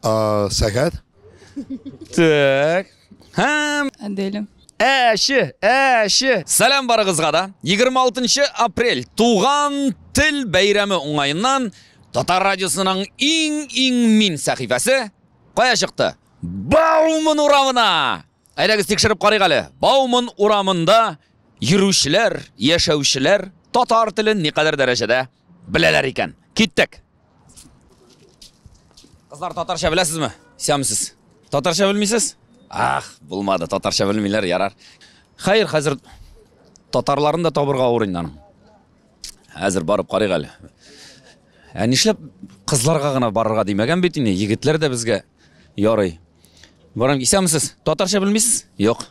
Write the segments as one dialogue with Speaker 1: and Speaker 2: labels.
Speaker 1: Сәгать.
Speaker 2: Так. Һәм Аделя.
Speaker 3: Әші,
Speaker 2: әші. Сәлем барыгызга да. 26 апрель туган тел бәйрәме уңайыннан Татар радиосының иң-иң мин сәхифәсе кая чыкты? Бауман урамына! Әйдәгез тикшереп карыйк әле. Бауман урамында йөрүчеләр, яшәүчеләр татар телен никадәр дәрәҗәдә беләләр икән. Киттек. Кызлар татарча беләсезме? Исәнмесез. Татарча белмисез? Ах, булмады. Татарча белмиләр, ярар. Хәер, хәзер татарларын да табырга авыр инде аның. Әзер барып карыйк әле. Ә нишләп кызларга гына барырга димәгән бит инде, егетләр дә безгә ярый. Барам, исәнмесез? Татарча белмисез? Юк.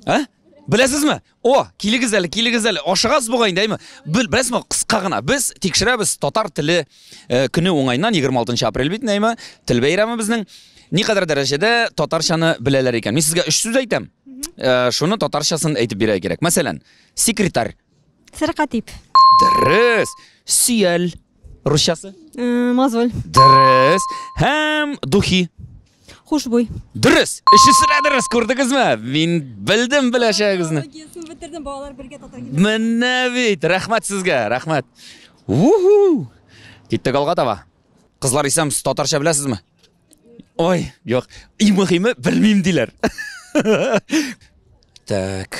Speaker 2: Ә? Беләсезме? О, килегез әле, килегез әле. Ашыгасыз бугай инде, әйме? Бел, беләсезме, кыска гына. Без тикшерәбез татар теле э, көне уңайнан 26 апрель бит, әйме? Тел бәйрәме безнең. Ни кадәр дәрәҗәдә татарчаны беләләр икән? Мин сезгә өч сүз әйтәм. Э, шуны татарчасын әйтеп бирә кирәк. Мәсәлән, секретарь Сәркатип.
Speaker 4: Дөрес.
Speaker 2: Сөял. Русчасы? Э, мозоль.
Speaker 4: Дөрес.
Speaker 2: Һәм духи. Хушбуй.
Speaker 4: Дөрес.
Speaker 2: Өчесе дә дөрес, күрдегезме? Мин белдем беләчәгегезне. Гесны бетердем, балалар
Speaker 4: бергә татар килә. Менә бит.
Speaker 2: Рәхмәт сезгә, рәхмәт. Уху! Киттек алга таба. Кызлар исәм, татарча беләсезме? Ой, юк. Иң мөһиме, белмим диләр. Так.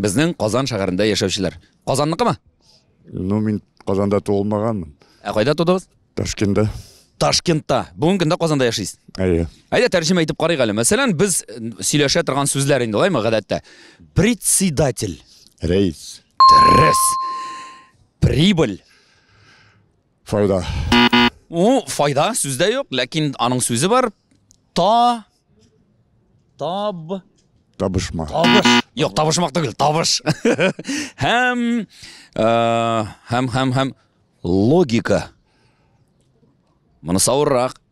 Speaker 2: Безнең Казан шәһәрендә яшәүчеләр. Казанныкымы? Ну, мин
Speaker 1: Казанда туылмаганмын. Ә кайда тудыгыз?
Speaker 2: Ташкентда. Ташкентта. Бүгенге көндә Казанда яшисез. Әйе. Әйдә тәрҗемә итеп карыйк әле. Мәсәлән, без э, сөйләшә торган сүзләр инде алаймы гадәттә? Председатель. Рейс.
Speaker 1: Дөрес.
Speaker 2: Прибыль.
Speaker 1: Файда. У,
Speaker 2: файда сүздә юк, ләкин аның сүзе бар. Та таб
Speaker 1: табышма. Табыш. Юк, табышмак
Speaker 2: түгел, табыш. һәм э, һәм һәм һәм логика. Монысы авыррак.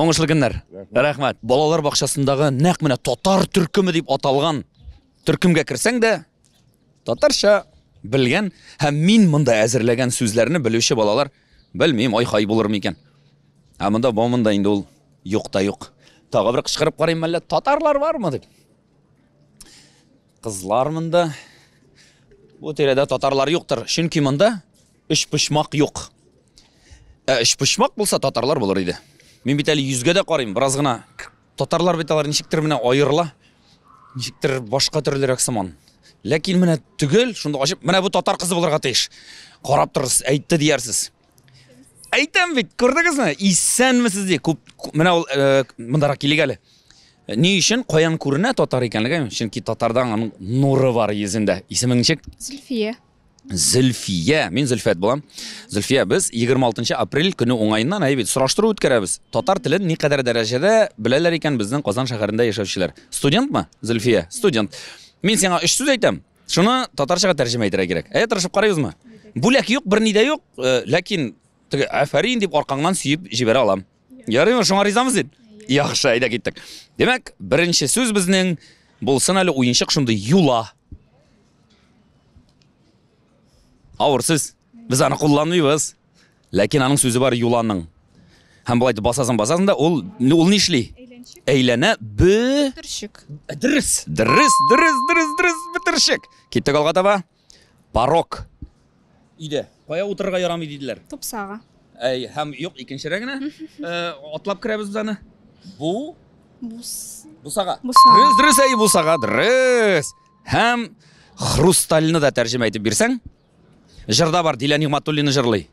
Speaker 2: Уңышлы көннәр. Рәхмәт. Балалар бакчасындагы нәкъ менә татар төркеме дип аталган төркемгә керсәң дә татарча белгән һәм мин монда әзерләгән сүзләрне белүче балалар белмим, ай-хай булыр микән. Ә монда бу монда инде ул юк та юк. Тагы бер кычкырып карыйм әллә татарлар бармы дип. Кызлар монда. Бу тирәдә татарлар юктыр, чөнки монда Өчпочмак юк. Ә өчпочмак булса, татарлар булыр иде. Мин бит әле йөзгә дә карыйм, бераз гына. Татарлар бит алар ничектер менә аерыла. Ничектер башка төрлерәк сыман. Ләкин менә түгел, шунда ачып, менә бу татар кызы булырга тиеш. Карап торырсыз, әйтте диярсез. Әйтәм бит, күрдегезме? Исәнмесез ди. Күп менә ул э, мондарак килик әле. Ни өчен каян күренә татар икәнлеге? Чөнки татардан аның нуры бар йөзендә. Исемең ничек? Зөлфия. Зөлфия, мин Зөлфәт булам. Зөлфия, без 26 апрель көне уңаеннан әйбит сораштыру үткәрәбез. Татар телен никадәр дәрәҗәдә беләләр икән безнең Казан шәһәрендә яшәүчеләр? Студентмы? Зөлфия, студент. Мин сиңа өч сүз әйтәм. Шуны татарчага тәрҗемә итәргә кирәк. Әйе, тырышып карыйбызмы? Бүләк юк, берни дә юк, э, ләкин теге афәрин дип аркаңнан сөеп җибәрә алам. Ярыймы, шуңа ризамы син? Яхшы, әйдә киттек. Димәк, беренче сүз безнең булсын әле уенчык шундый юла. Авыр сүз. Без аны кулланмыйбыз. Ләкин аның сүзе бар юланың. Һәм болай басасың, басасың да ул ул ни эшли? Әйләнә бе... Бөтерчек.
Speaker 3: Дөрес,
Speaker 2: дөрес, дөрес, дөрес, дөрес, бөтерчек. Киттек алга таба. Порог. Өйдә. Кая утырырга ярамый диделәр? Тупсага. Әй,
Speaker 3: һәм юк,
Speaker 2: икенчерә генә. Э, Атлап керәбез без аны. Бу Бус. бусага. Бусага. Дөрес, дөрес, әй, бусага, дөрес. Һәм хрустальны да тәрҗемә итеп бирсәң. Җырда бар, Дилә Нигматуллина җырлый.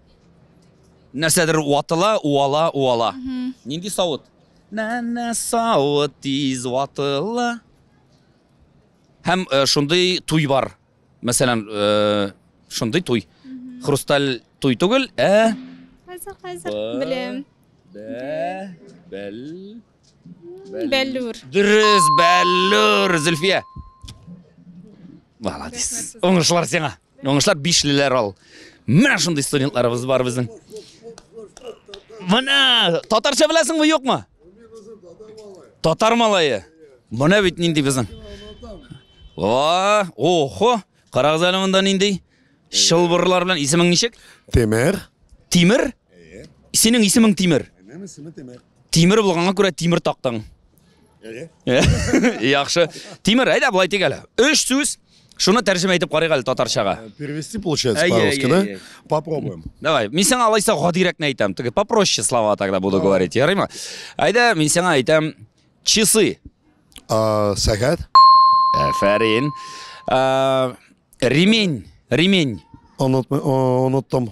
Speaker 2: Нәрсәдер ватыла, уала, уала. Нинди савыт? Нәнә савыт тиз ватыла. Һәм шундый туй бар. Мәсәлән, шундый туй. Хрусталь туй түгел, ә Хәзер,
Speaker 3: хәзер беләм. Бә, бәл, Бәллүр. Дөрес,
Speaker 2: Бәллүр, Зөлфия. Молодец. Уңышлар сиңа. Уңышлар бишлеләр ал. Менә шундый студентларыбыз бар безнең. Менә татарча беләсеңме, юкмы? Татар малае. Менә бит нинди безнең. Ва, охо, карагыз әле монда нинди чылбырлар белән исемең ничек? Темер.
Speaker 5: Тимер?
Speaker 2: Синең исемең Тимер. Минем исемем Темер. Тимер булганга күрә тимер тактың. Әйе. Яхшы. Тимер, әйдә болай тик әле. Өч сүз. Шуны тәрҗемә итеп карыйк әле татарчага. Э, перевести получается
Speaker 5: по-русски, да? Попробуем. Давай. Мин сиңа
Speaker 2: алайса гадирәкне әйтәм. Теге попроще слова тогда буду говорить. Ярыймы? Әйдә, мин сиңа әйтәм часы. А,
Speaker 5: сәгать.
Speaker 2: Әфәрин. Э, ремень. Ремень.
Speaker 5: Оныттым.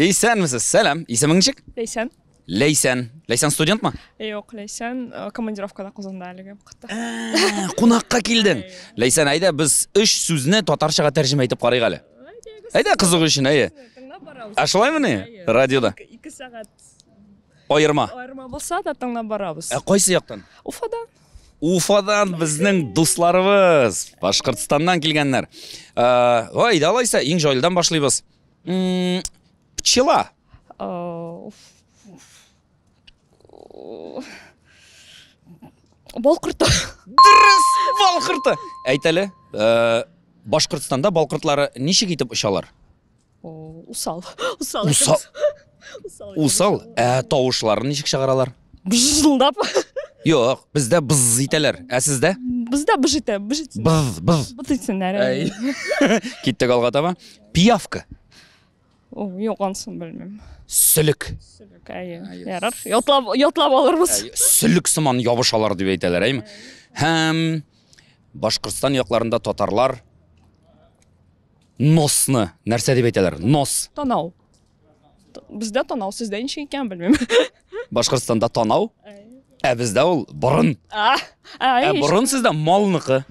Speaker 2: Исәнмесез, сәлам. Исемең ничек? Ләйсән. Ләйсән.
Speaker 3: Ләйсән студентмы?
Speaker 2: Юк, Ләйсән
Speaker 3: э, командировкада Казанда әлеге вакытта. Ә,
Speaker 2: Кунакка килдең. Ләйсән, әйдә без өч сүзне татарчага тәрҗемә итеп карыйк әле. Әйдә кызыгу өчен, әйе. Тыңлап барабыз. Ә шулаймы ни? Радиода. Ике сәгать
Speaker 3: Аерма.
Speaker 2: аерма булса
Speaker 3: да тыңлап барабыз. Ә кайсы яктан?
Speaker 2: Уфада.
Speaker 3: Уфадан безнең
Speaker 2: дусларыбыз, Башкортстаннан килгәннәр. Ә, Ой, далайса, иң җайлыдан башлыйбыз. М, Пчела. Э, уф.
Speaker 3: Бал корты. Дөрес,
Speaker 2: бал корты. Әйт әле, э, Башкортстанда бал кортлары ничек итеп очалар? О,
Speaker 3: Усал. Усал. Усал. Усал.
Speaker 2: Усал. Ә тавышларын ничек чыгаралар? быжылдап
Speaker 3: Юк,
Speaker 2: бездә быз итәләр. Ә сездә? Бездә быж итә,
Speaker 3: быж итсен. Быз, быз.
Speaker 2: Быз итсеннәр. Әй.
Speaker 3: Киттек
Speaker 2: алга таба. Пиявка. О,
Speaker 3: юк, ансын белмим. Сөлек.
Speaker 2: Сөлек, әйе.
Speaker 3: Ярар. Ятлап, ятлап алырбыз. Сөлек сыман
Speaker 2: ябышалар дип әйтәләр, әйме? Һәм Башкортстан якларында татарлар носны нәрсә дип әйтәләр? Нос. Танау.
Speaker 3: Бездә танау, сездә ничек икән белмим. Башкортстанда
Speaker 2: танау, ә бездә ул борын. А, Ә борын сездә малныкы.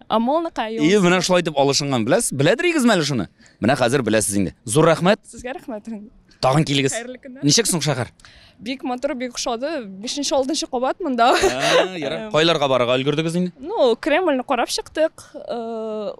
Speaker 2: А малныкы
Speaker 3: юк. И, менә шулай итеп
Speaker 2: алышынган, беләсез? Беләдер игезме әле шуны? Менә хәзер беләсез инде. Зур рәхмәт. Сезгә рәхмәт.
Speaker 3: Тагын килегез.
Speaker 2: Хәерле көннәр. Ничек соң шәһәр? Бик матур, бик
Speaker 3: ошады. 5нче, 6нчы кабат монда. Ә, ярар. Кайларга
Speaker 2: барырга өлгердегез инде? Ну, Кремльне карап
Speaker 3: чыктык. Э,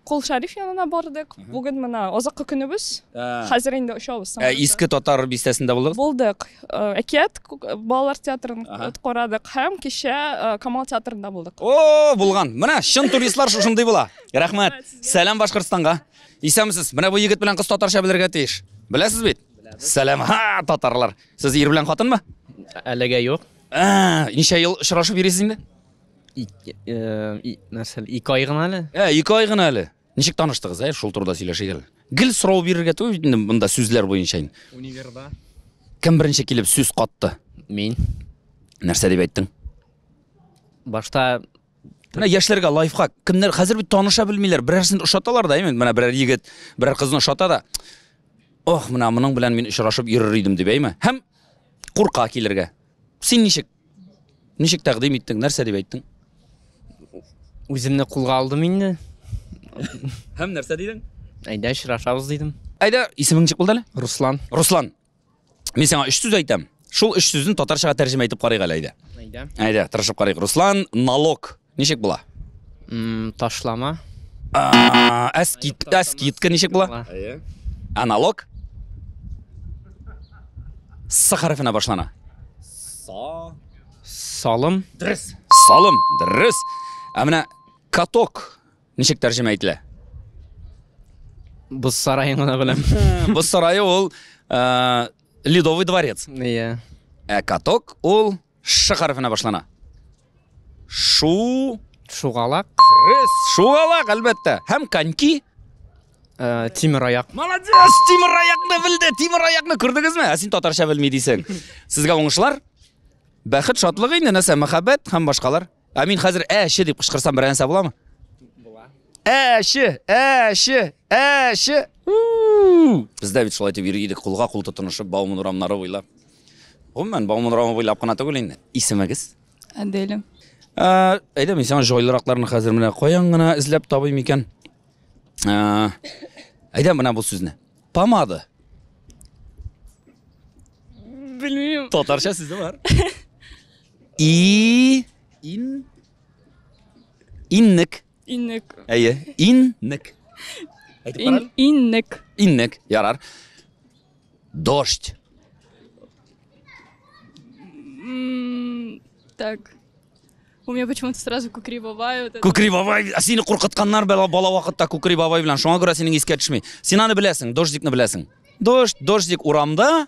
Speaker 3: Кол Шәриф янына бардык. Бүген менә азаккы көнебез. Хәзер инде очабыз. Ә иске татар
Speaker 2: бистәсендә булдыгыз? Булдык.
Speaker 3: Әкият балалар театрын карадык һәм кичә Камал театрында булдык. О, булган. Менә
Speaker 2: чын туристлар шушындый була. Рәхмәт. Сәлам Башкортстанга. Исәнмесез. Менә бу егет белән кыз татарча белергә тиеш. Беләсез бит? Сәлам, ха, татарлар. Сез ир белән хатынмы? Әлегә юк.
Speaker 6: Ә, ничә ел
Speaker 2: очрашып йөрисез инде? Ике, э, и-
Speaker 6: нәрсә әле? Ике ай гына әле. Ә, ике ай гына әле.
Speaker 2: Ничек таныштыгыз, ә? Шул турыда сөйләшик әле. Гел сорау бирергә түгел бит инде монда сүзләр буенча. инде. Универда.
Speaker 6: Кем беренче
Speaker 2: килеп сүз катты? Мин.
Speaker 6: Нәрсә
Speaker 2: дип әйттең?
Speaker 6: Башта
Speaker 2: Менә яшьләргә лайфхак. Кемнәр хәзер бит таныша белмиләр. Берәрсен ошаталар да, именно менә берәр егет, берәр кызны ошата да. Ох, менә моның белән мин очрашып йөрер идем дип әйме. Һәм курка килергә. Син ничек? Ничек тәкъдим иттең? Нәрсә дип әйттең? Үземне
Speaker 6: кулга алдым инде.
Speaker 2: Һәм нәрсә дидең? Әйдә очрашабыз
Speaker 6: дидем.
Speaker 2: Әйдә, исемең ничек булды әле? Руслан. Руслан. Мин
Speaker 6: сиңа өч
Speaker 2: сүз әйтәм. Шул өч сүзне татарчага тәрҗемә итеп карыйк әле әйдә. Әйдә. Әйдә, тырышып
Speaker 6: карыйк.
Speaker 2: Руслан, налог. Ничек була? М, Ташлама.
Speaker 6: А, Ә
Speaker 2: скидка, скидка ничек була? Әйе. Ә налог? С хәрефенә башлана. Са.
Speaker 6: Салым. Дөрес. Салым,
Speaker 2: дөрес. Ә менә каток ничек тәрҗемә ителә?
Speaker 6: Боз сараен гына беләм. Бу сарае
Speaker 2: ул э, Ледовый дворец. Иә. Ә
Speaker 6: каток
Speaker 2: ул Ш хәрефенә башлана. Шу.
Speaker 6: Шугалак. Рыс. Шугалак,
Speaker 2: әлбәттә. Һәм коньки. Э,
Speaker 6: тимер аяк. Молодец! Тимер
Speaker 2: аякны белде, тимер аякны күрдегезме? Ә син татарча белми дисең. Сезгә уңышлар. Бәхет, шатлык инде, нәрсә, мәхәббәт һәм башкалар. Ә мин хәзер әче дип кычкырсам берәр нәрсә буламы? Була. Әче, әче, әче. Бездә бит шулай дип йөри идек, кулга кул тотынышып Бауман урамнары буйлап. Гомумән Бауман урамы буйлап кына түгел инде. Исемегез? Аделя.
Speaker 3: Ә,
Speaker 2: әйдә мин сиңа җайлыракларны хәзер менә каян гына эзләп табыйм икән. Ә, әйдә менә бу сүзне. Помада.
Speaker 3: Белмим. Татарча сүзе бар.
Speaker 2: И ин иннек. Иннек.
Speaker 3: Әйе,
Speaker 2: иннек. Әйтеп Ин, иннек.
Speaker 3: Иннек, ярар.
Speaker 2: Дождь.
Speaker 3: так. У меня почему-то сразу кукри бабай. Вот кукри бабай. А
Speaker 2: сине куркытканнар бала, бала вакытта кукри бабай белән. Шуңа күрә синең искә төшми. Син аны беләсең, дождикны беләсең. Дождь, дождик урамда,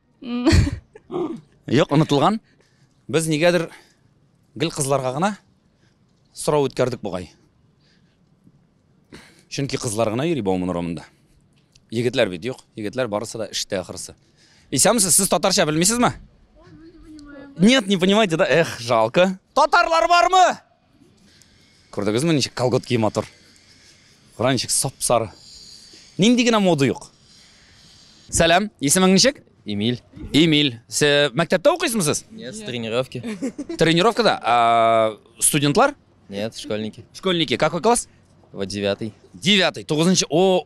Speaker 2: Юк, онытылган. Без нигәдер гел кызларга гына сорау үткәрдек бугай. Чөнки кызлар гына йөри Бауман урамында. Егетләр бит юк. Егетләр барысы да эштә ахырсы. Исәмсез, сез татарча белмисезме? Нет, не понимаете, да? Эх, жалко. Татарлар бармы? Күрдегезме, ничек колготки матур. Кара ничек сап-сары. Нинди генә мода юк. Сәлам, исемең ничек? Эмиль. Эмиль.
Speaker 7: Сез
Speaker 2: мәктәптә укыйсызмы сез? Нет, с тренировки.
Speaker 7: Тренировкада? А,
Speaker 2: студентлар? Нет, школьники.
Speaker 7: Школьники. Какой класс?
Speaker 2: Вот девятый.
Speaker 7: Девятый. Тугызынчы.
Speaker 2: О,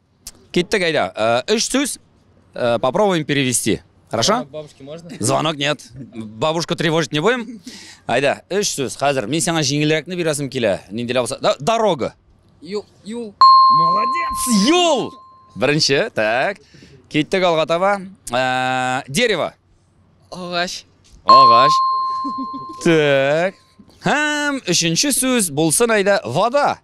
Speaker 2: Киттек, әйдә. Өч э, сүз э, попробуем перевести. Хорошо? Бабушке можно? Звонок
Speaker 7: нет.
Speaker 2: Бабушку тревожить не будем. Айда, үш сүз. Хәзер мин сиңа җиңелрәкне бирәсем килә. Ниндиләр булса. Да, дорога. Юл, юл.
Speaker 7: Молодец.
Speaker 2: Юл. Беренче, так. Киттек алга таба. Э, дерево.
Speaker 7: Агач. Агач.
Speaker 2: Так. Һәм өченче сүз булсын әйдә вода.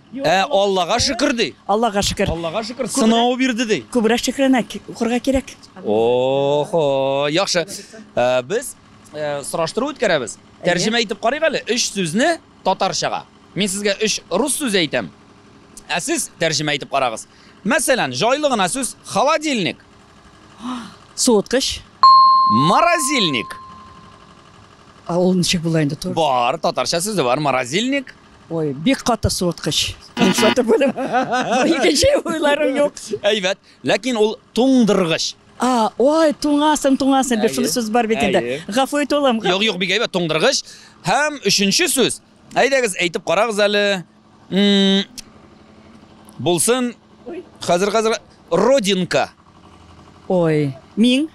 Speaker 2: Ә Аллага шөкер ди. Аллага шөкер. Аллага
Speaker 8: шөкер, сынау
Speaker 2: бирде ди. Күбрәк шөкрәнәк
Speaker 8: укырга кирәк. Охо,
Speaker 2: яхшы. Ә, Без ә, сораштыру үткәрәбез. Тәрҗемә итеп карыйк әле. Өч сүзне татарчага. Мин сезгә өч рус сүзе әйтәм. Ә сез тәрҗемә итеп карагыз. Мәсәлән, җайлы гына сүз холодильник,
Speaker 8: Суыткыч.
Speaker 2: морозильник.
Speaker 8: А ул ничек була инде? Бар, татарча сүзе
Speaker 2: бар, морозильник. Ой, бик каты
Speaker 8: суыткыч. Ансаты булып. Икенче уйларым юк. Әйбәт. Ләкин
Speaker 2: ул туңдыргыч. А, ой,
Speaker 8: туңасың, туңасың дип шул сүз бар бит инде. Гафу ит улым. Юк, юк, бик әйбәт туңдыргыч.
Speaker 2: Һәм өченче сүз. Әйдәгез, әйтеп карагыз әле. Булсын. Хәзер хәзер родинка.
Speaker 8: Ой, мин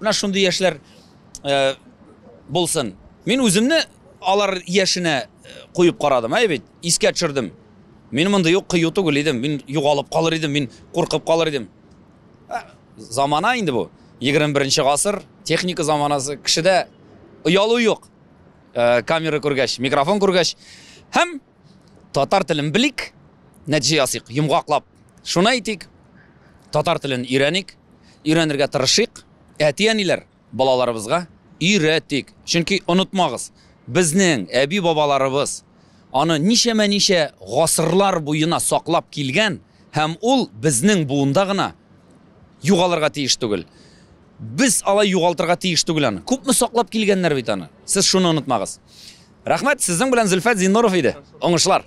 Speaker 2: Менә шундый яшьләр э, булсын. Мин үземне алар яшенә э, куеп карадым, әй бит, искә төшердем. Мин мондый юк кыю түгел идем, мин югалып калыр идем, мин куркып калыр идем. Ә, замана инде бу. 21 гасыр, техника заманасы, кешедә оялу юк. Э, камера күргәч, микрофон күргәч һәм Татар телен белик, нәтиҗә ясыйк, йомгаклап шуны әйтик, татар телен өйрәник, өйрәнергә тырышыйк, әти-әниләр, балаларыбызга өйрәтик. Чөнки онытмагыз, безнең әби-бабаларыбыз аны ничәмә-ничә гасырлар буена саклап килгән һәм ул безнең буында гына югалырга тиеш түгел. Без алай югалтырга тиеш түгел аны. Күпме саклап килгәннәр бит аны. Сез шуны онытмагыз. Рәхмәт, сезнең белән Зөлфәт Зиннуров иде. Уңышлар!